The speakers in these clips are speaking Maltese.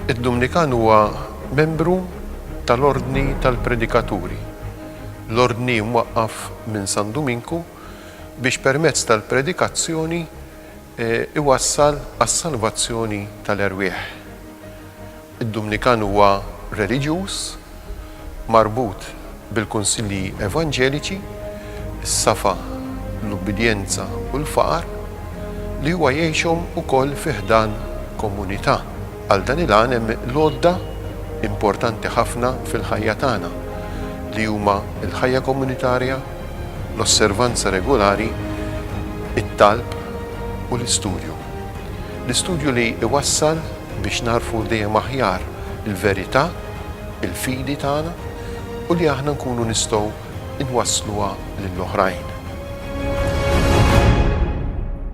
Id-Dumnikan huwa membru tal-Ordni tal-Predikaturi, l-ordni mwaqqaf minn San Duminku biex permezz tal-predikazzjoni iwassal għas-salvazzjoni tal-erwieħ. Id-Dumnikan huwa reliġjuż marbut bil-kunsilli evanġeliċi, is-safa, l-ubbidjenza u l-faqar, li huwa jgħixhom ukoll fi ħdan komunità. Għal dan il-għan hemm l-għodda importanti ħafna fil-ħajja tagħna, li huma l-ħajja komunitarja, l-osservanza regulari, it-talb u l-istudju. L-istudju li jwassal biex nagħrfu dejjem aħjar il-verità, il-fidi tagħna u li aħna nkunu nistgħu nwassluha lil oħrajn.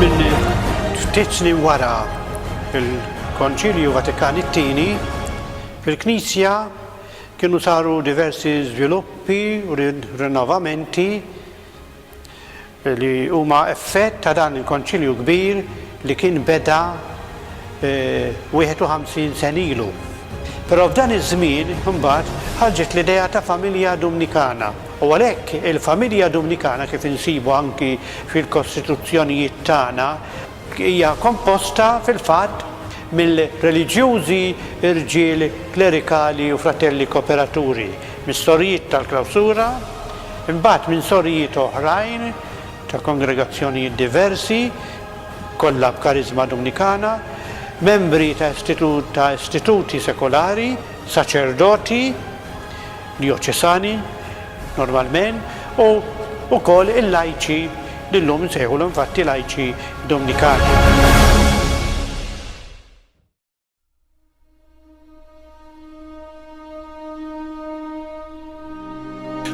Minn ftit snin wara il-Konċilju Vatikan it-Tieni, fil-Knisja kienu saru diversi żviluppi u rinnovamenti li huma effett ta' dan il-konċilju kbir li kien beda 51 eh, sen ilu. Però f'dan iż-żmien imbagħad ħarġet l-idea ta' familja Dumnikana. U għalhekk il-familja Dumnikana, kif insibu anki fil-kostituzzjonijiet tagħna, hija komposta fil-fatt mill-reliġjużi rġiel klerikali u fratelli kooperaturi, mis-sorijiet tal-klawsura, imbagħad minn sorijiet oħrajn ta' kongregazzjonijiet diversi, kollha b'kariżma Dumnikana, membri ta' istituti sekulari, saċerdoti, Djoċesani, normalment, u wkoll il-lajċi li llum insejħulhom infatti lajċi Domnikani.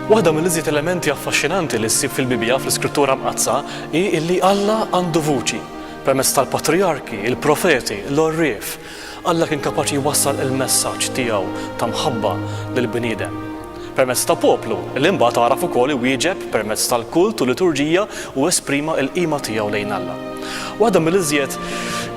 Waħda mill-iżjed elementi affaxxinanti li ssib fil-Bibbja fl-Iskrittura Mqaddsa hi li Alla għandu vuċi permezz tal-patrijarki, il-profeti, l-orrif, Alla kien kapaċi jwassal il-messaġġ tiegħu ta' mħabba lill-bniedem permezz ta' poplu li mbagħad għaraf ukoll iwieġeb permezz tal-kult u l-liturġija u esprima l-qima tiegħu lejn Alla. Waħda mill-iżjed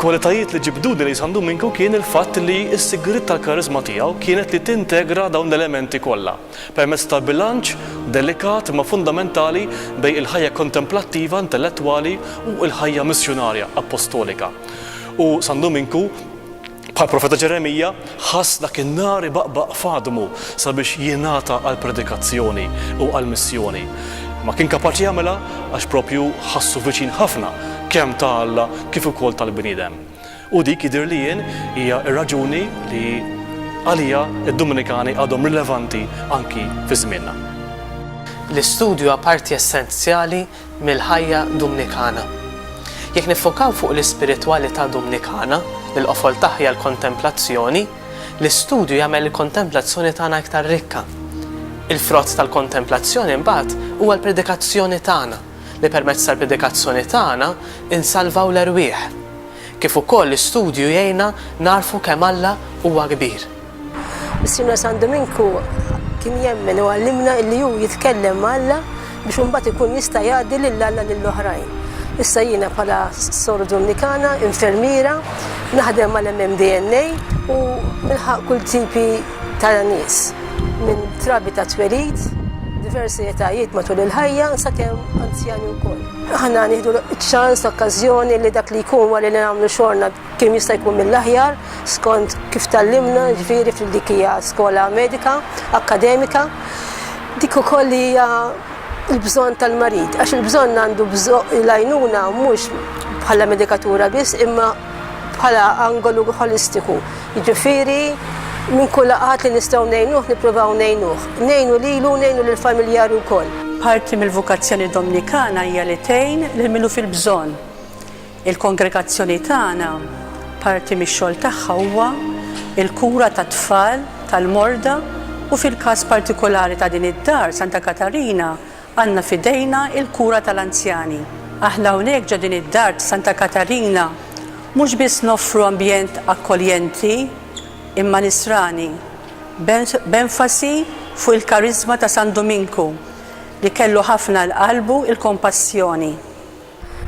kwalitajiet li ġibduni lejn San Duminku kien il-fatt li s-sigriet tal-kariżma tiegħu kienet li tintegra dawn l-elementi kollha. Permezz ta' bilanċ delikat imma fundamentali bejn il-ħajja kontemplattiva, intellettwali u l-ħajja missjunarja, appostolika. U San Duminku, bħall-profeta Ġeremija, ħass dak in-nar ibaqbaq f'għadmu sabiex jingħata għall-predikazzjoni u għall-missjoni. Imma kien kapaċi jagħmilha għax proprju ħassu viċin ħafna kemm ta' Alla kif ukoll tal-bniedem. U dik jidhirli jien hija r-raġuni li għaliha d-Dominikani għadhom rilevanti anki fi żmienna. L-istudju huwa parti essenzjali mill-ħajja Dumnikana. Jekk niffokaw fuq l-ispiritwalità Dumnikana, li l-qofol tagħha hija l-kontemplazzjoni, l-istudju jagħmel il-kontemplazzjoni tagħna iktar rikka. Il-frott tal-kontemplazzjoni mbagħad huwa l-predikazzjoni tagħna. li permezz tal-predikazzjoni tagħna nsalvaw l-erwieħ, kif ukoll l-istudju jgħinna nagħrfu kemm Alla huwa kbir. Missierna San Duminku kien jemmen u għallimna illi hu jitkellem ma' Alla biex imbagħad ikun jista' jgħaddi lil Alla lil oħrajn. Issa jiena bħala Sor Dumnikana, infermiera, naħdem mal-MMDNA u nilħaq kull tipi Tara nies minn trabi ta' twelid, diversi etajiet matul il-ħajja, sakemm anzjani wkoll. Aħna nieħdu ċ-ċans, l-okkażjoni li dak li jkun wara li nagħmlu xogħolna kemm jista' jkun mill-aħjar, skont kif tgħallimna, ġifieri fil dik hija skola medika, akkademika, dik ukoll li hija l-bżonn tal-marid, għax il-bżonn għandu l-għajnuna mhux bħala medikatura biss, imma bħala angolu ħolistiku, jiġifieri minn kull qatt li nistgħu ngħinuh nippruvaw ngħinuh, ngħinu lilu u ngħinu lill-familjari wkoll. Parti mill-vokazzjoni Domnikana hija li tgħin lil min hu fil-bżonn. Il-kongregazzjoni tagħna, parti mix-xogħol tagħha huwa l-kura tat-tfal, tal-morda u fil-każ partikulari ta' din id-dar, Santa Katarina, Għandna f'idejna l-kura tal-anzjani. Aħna hawnhekk ġo din id-dar t'Santa Katarina mhux biss noffru ambjent akkoljenti imma nisrani, b'enfasi fuq il-kariżma ta' San Duminku li kellu ħafna 'l qalbu l-kompassjoni.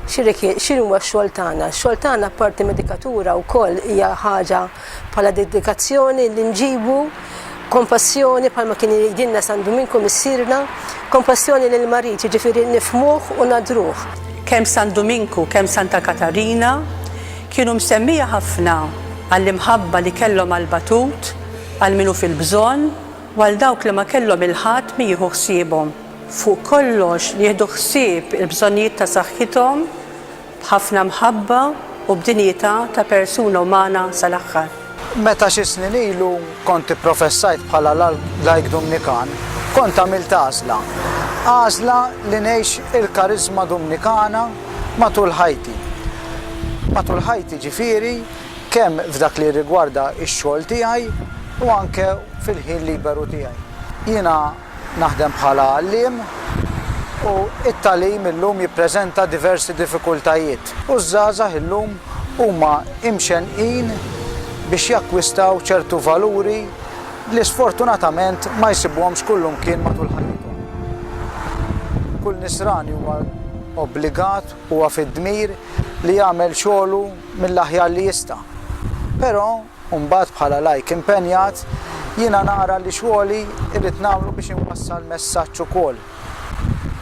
X'inhuwa x-xogħol tagħna? X-xogħol tagħna apparti mid-dikatura wkoll hija ħaġa bħala dedikazzjoni li nġibu kompassjoni bħalma kien jgħidilna San Duminku missierna, kompassjoni lil marid jiġifieri nifhmuh u nadruh. Kemm San Duminku kemm Santa Katarina kienu msemmija ħafna għall-imħabba li kellhom għall-batut, għal min hu fil-bżonn u għal dawk li ma kellhom il-ħadd min jieħu ħsiebhom. fuq kollox li jieħdu ħsieb il-bżonnijiet ta' saħħithom b'ħafna mħabba u b'dinjità ta' persuna umana sal-aħħar. Meta xi snin ilu kont ipprofessajt bħala lajk Dumnikan, kont għamilt għażla, għażla li ngħix il-kariżma Dumnikana matul ħajti. Matul ħajti ġifieri kemm f'dak li jirrigwarda x-xogħol tiegħi u anke fil-ħin liberu tiegħi. Jiena. Naħdem bħala għalliem u t-tagħlim illum jippreżenta diversi diffikultajiet u ż-żgħażagħ illum huma imxennqin biex jakkwistaw ċertu valuri li sfortunatament ma jsibuhomx kullimkien matul ħajjithom. Kull Nisrani huwa obbligat, huwa fid-dmir li jagħmel xogħlu mill-aħjar li jista'. Però u mbagħad bħala lajk impenjat, jiena nara li xogħli irrid nagħmlu biex inwassal messaġġ ukoll.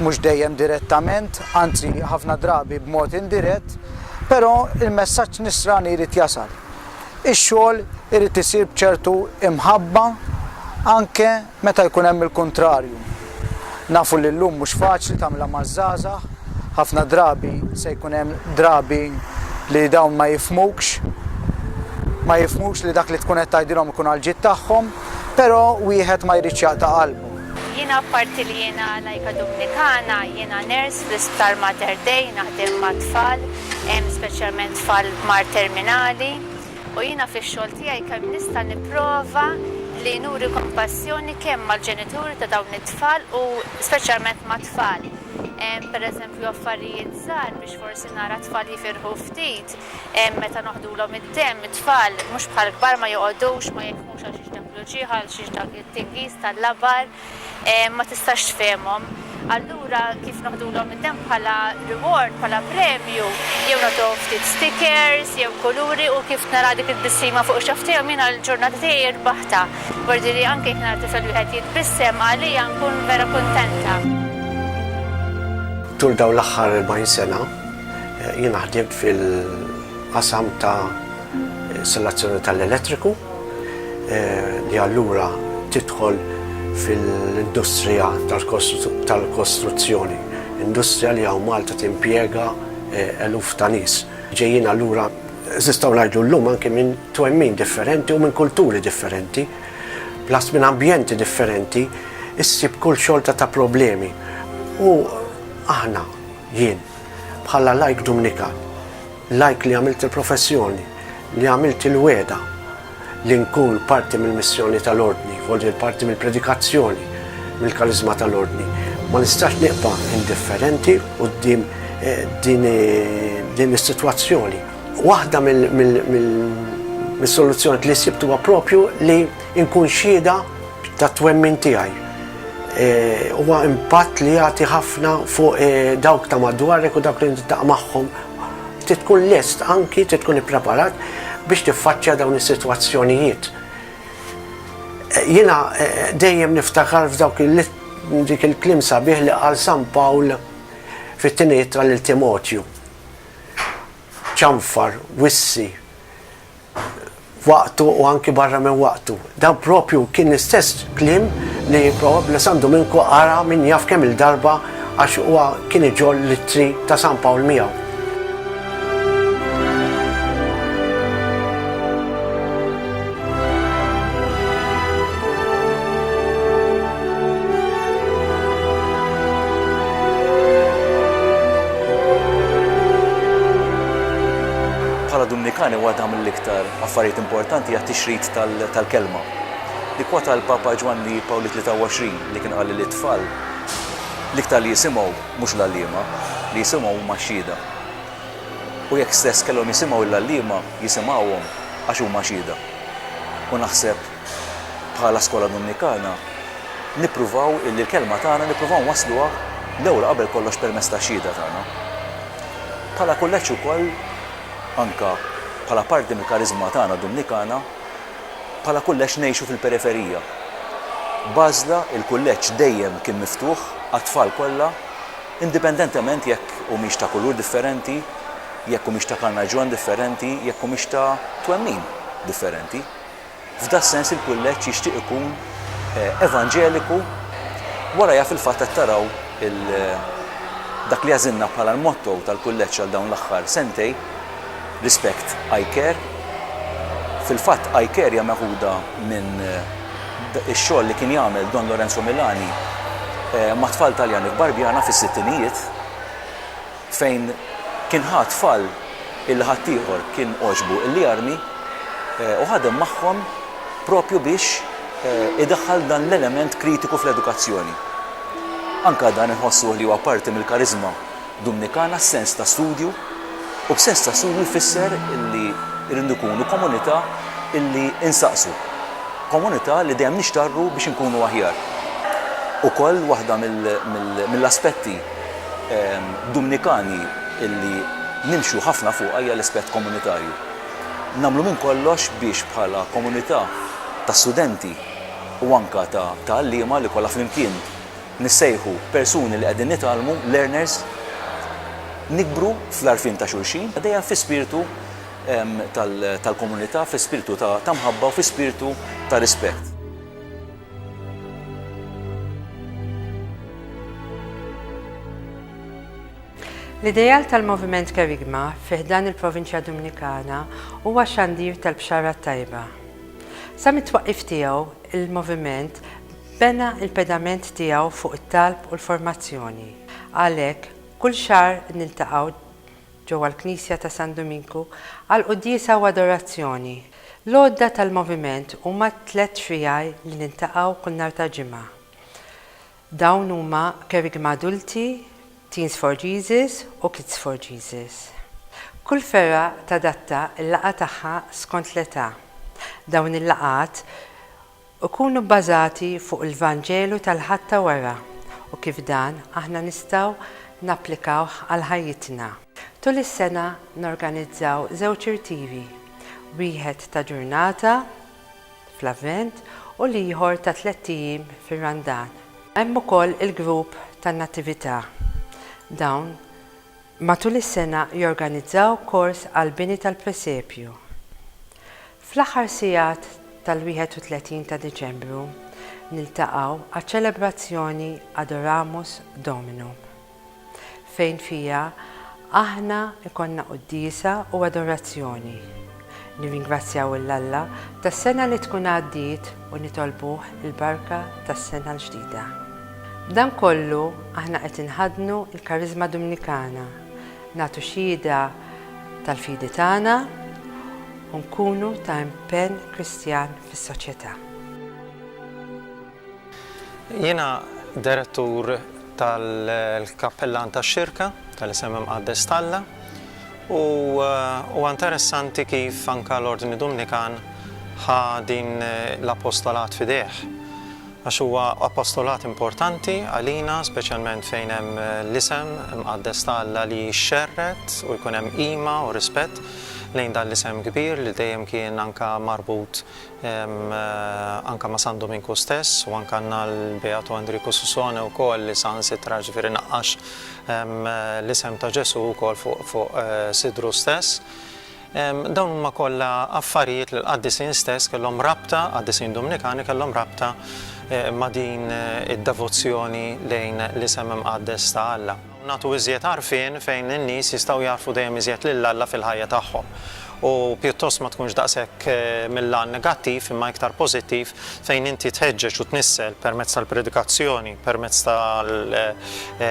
Mhux dejjem direttament, anzi ħafna drabi b'mod indirett, però l-messaġġ Nisrani jrid jasal. Ix-xogħol irid isir b'ċertu imħabba anke Meta jkun hemm il-kuntrarju? Nafu li llum mhux faċli tagħmilha maż-żgħażagħ, ħafna drabi se jkun hemm drabi li dawn ma jifhmukx, ma jifhmux li dak li tkun qed tgħidilhom ikun għall-ġid tagħhom, però wieħed ma jridx jaqta' qalbu. Jiena apparti li jiena lajka Dumnikana, jiena nurse fl-Isptar Mater Dei, naħdem mat-tfal, speċjalment tfal b'mard terminali. u jiena fix-xogħol tiegħi kemm nista' nipprova li nuri kompassjoni kemm mal-ġenituri ta' dawn it-tfal u speċjalment mat-tfal. Hemm pereżempju affarijiet żgħar biex forsi nara t-tfal jifirħu ftit, meta noħdulhom id-demm, it-tfal mhux bħall-kbar ma joqogħdux ma jifhmux għalxiex dak l-uċieħ, għalxiex dak it-tingiż tal-labar, ma tistax tfehimhom. Allura kif noħdulhom it-temp bħala reward, bħala premju, jew nagħtuhom ftit stickers jew kuluri u kif nara dik it-tbissima fuq ix-xagħaf tiegħhom jiena l-ġurnata tiegħi rbaħtha. B'għordi li anke jekk nara tifel wieħed jitbissem għalija nkun vera kuntenta. Tul dawn l-aħħar 40 sena jiena ħdimt fil-qasam ta' Installazzjoni tal-elettriku li allura tidħol fil-industrija tal-kostruzzjoni, industrija li hawn Malta timpjega eluf ta' nies. Ġejjin allura, nistgħu ngħidu llum anki minn twemmin differenti u minn kulturi differenti, plus minn ambjenti differenti, issib kull xorta ta' problemi. U aħna, jien, bħala lajk Dumnikan, L-għid li għamilt il-professjoni, li għamilt il-wegħda li nkun parti mill-missjoni tal-Ordni, vojt parti mill-predikazzjoni, mill-kariżma tal-Ordni, ma nistax nibqa' indifferenti quddiem din is-sitwazzjoni. Waħda mis-soluzzjonijiet li sibt huwa proprju li nkun xhieda tat-twemmin tiegħi. Huwa impatt li jagħti ħafna fuq dawk ta' madwarek u dawk li niltaqa' magħhom. Trid tkun lest anki trid tkun ippreparat biex tiffaċċja dawn is-sitwazzjonijiet. Jiena eh, dejjem niftakar f'dawk dik il-klim sabiħ li qal San Pawl fit-tiniet tal-Timotju. Ċanfar, wissi, f'waqtu u anki barra minn waqtu. Dan proprju kien l-istess kliem li probabbli San Duminku qara min jaf kemm-il darba għax huwa kien iġorr l-ittri ta' San Pawl miegħu. Bħala Dumnikani waħda mill-iktar affarijiet importanti hija t-tixrid tal-Kelma. Nikkwota l-Papa Ġwanni Pawl it-23 li kien qal li lit-tfal, l-iktar li jisimgħu mhux l-għalliema, li jisimgħu huma x-xhieda. U jekk stess kellhom jisimgħu lill-għalliema, jisimgħuhom għax huma xhieda. U naħseb. Bħala Skola Dominikana nippruvaw illi l-kelma tagħna nippruvaw nwassluha l-ewwel qabel kollox permezz tax-xhieda tagħna. Bħala kulleġġ ukoll anke bħala parti mill-kariżma tagħna Dominikana, bħala kulleġġ ngħixu fil-periferija. B'għażla il-kulleġġ dejjem kien miftuħ għat-tfal kollha indipendentement jekk humiex ta' kulur differenti, jekk humiex ta' karnaġġjon differenti, jekk humiex ta' twemmin differenti. F'das-sens il-Kulleġġ jixtieq ikun evanġeliku, wara jaf il-fatt qed taraw il dak li għażilna bħala l-motto tal-Kulleġġ għal dawn l-aħħar sentej, Respect, I care. Fil-fatt I care hija meħuda minn ix-xogħol li kien jagħmel Don Lorenzo Milani mat-tfal Taljani f'Barbjana fis-sittinijiet. fejn kien ħa tfal illi ħaddieħor kien għoġbu illi jarmi u ħadem magħhom proprju biex idaħħal dan l-element kritiku fl-edukazzjoni. Anke dan inħossuh li huwa parti mill-kariżma Dumnikana, s-sens ta' studju, u b'sens ta' studju jfisser illi rridu nkunu komunità illi insaqsu, komunità li dejjem nixtarru biex inkunu aħjar. Ukoll waħda mill-aspetti. Dumnikani li nimxu ħafna fuqha hija l-aspett komunitarju. Nagħmlu minn kollox biex bħala komunità ta' studenti u anke ta' għalliema li kollha flimkien nissejħu persuni li qegħdin nitgħallmu, learners, nikbru fl-għarfien ta' xulxin, dejjem fi spirtu tal-komunità, fi spirtu ta' mħabba u fi spirtu ta' rispett. L-ideal tal-Moviment Kerygma fi ħdan il-Provinċja Dominikana huwa xandir tal-Bxara t-Tajba. Sa mit-twaqqif tiegħu, il-Moviment bena l-pedament tiegħu fuq it-talb u l-formazzjoni. Għalhekk, kull xahar niltaqgħu ġewwa l-Knisja ta' San Duminku għall-quddiesa u adorazzjoni. L-għodda tal-moviment huma t-tliet triaj li niltaqgħu kull nhar ta' Ġimgħa. Dawn huma Kerigma Adulti, Teens for Jesus u Kids for Jesus. Kull fergħa tadatta l-laqgħa tagħha skont l-età. Dawn il-laqgħat. Ikunu bbażati fuq il-Vanġelu tal-Ħadd ta' wara u kif dan aħna nistgħu napplikawh għal ħajjitna. Tul is-sena norganizzaw żewġ irtivi, wieħed ta' ġurnata fl-Avvent u l-ieħor ta' tlett ijiem fir-Randan. Hemm ukoll il-grupp tan-Natività. Dawn matul is-sena jorganizzaw kors għall-bini tal-presepju. Fl-aħħar sigħat tal-31 ta' Diċembru niltaqgħu għaċ-ċelebrazzjoni Adoramus Dominum, fejn fiha aħna jkollna quddiesa u adorazzjoni, nirringrazzjaw 'l Alla tas-sena li tkun għaddiet u nitolbuh il-barka tas-sena l-ġdida. B'dan kollu aħna qed inħaddnu l-Kariżma Dumnikana, Nagħtu xhieda tal-fidi tagħna u nkunu ta' impenn Kristjan fis-soċjetà. Jiena Direttur tal-Kappellan tax-Xirka tal-Isem Imqaddes t'Alla u huwa interessanti kif anke l-Ordni Dumnikan ħa din l-apostolat f'idejh. Għax huwa apostolat importanti għalina, speċjalment fejn hemm l-isem mqaddes ta' Alla li jixxerred u jkun hemm qima u rispett lejn dan l-isem kbir li dejjem kien anke marbut anke ma' San Duminku stess u anke għandna l-Beatu Andriku Susone wkoll li saħansitra ġifieri naqqax l-isem ta' Ġesù wkoll fuq sidru stess. Dawn huma kollha affarijiet li l-qaddisin stess kellhom rabta, qaddisin Dumnikani kellhom rabta ma' din id-devozzjoni lejn l-isem imqaddes ta' Alla. Nagħtu iżjed għarfien fejn in-nies jistgħu jagħrfu dejjem iżjed lil Alla fil-ħajja tagħhom. U pjuttost ma tkunx daqshekk mil-għan negattiv imma iktar pożittiv fejn inti tħeġġeġ u tnissel permezz tal-predikazzjoni, permezz tal-xandir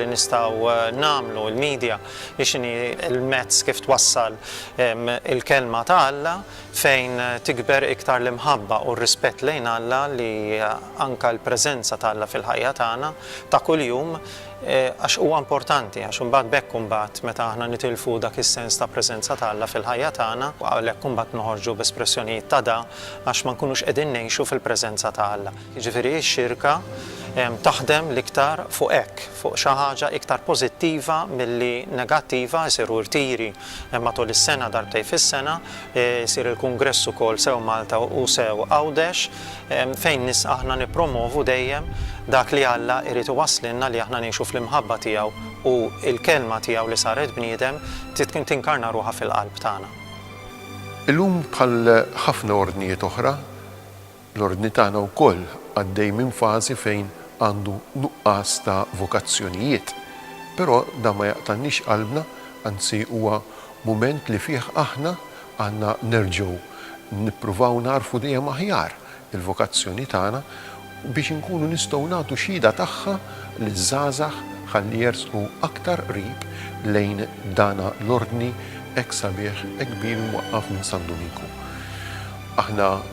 li nistgħu nagħmlu, il-media, hi x'inhi l-mezz kif twassal il-Kelma ta' Alla fejn tikber iktar l-imħabba u r-rispett lejn Alla li anke l-preżenza ta' Alla fil-ħajja tagħna ta' kuljum għax huwa importanti għax imbagħad b'hekk imbagħad meta aħna nitilfu dak is-sens ta' preżenza ta' Alla fil-ħajja tagħna għalhekk imbagħad noħorġu b'espressjonijiet ta' da għax ma nkunux qegħdin ngħixu fil-preżenza ta' Alla. Jiġifieri x-Xirka taħdem l-iktar fuq hekk, fuq xi ħaġa iktar pożittiva milli negattiva, isiru rtiri matul is-sena darbtejn fis-sena, isir il-kungress ukoll sew Malta u sew Għawdex, fejn aħna nippromovu dejjem dak li Alla jrid iwasslilna li aħna ngħixu fl-imħabba tiegħu u l-Kelma tiegħu li saret bniedem tinkarna ruħha fil-qalb tagħna. Illum bħal ħafna ordnijiet oħra, L-Ordni tagħna wkoll għaddej minn fażi fejn għandu nuqqas ta' vokazzjonijiet. Però dan ma jaqtagħniex qalbna, anzi huwa mument li fih aħna għandna nerġgħu nippruvaw nagħrfu dejjem aħjar il-vokazzjoni tagħna biex inkunu nistgħu nagħtu xhieda tagħha liż-żgħażagħ ħalli jersqu aktar qrib lejn dana l-Ordni hekk sabiħ, hekk kbir imwaqqaf minn San Duminku. Aħna.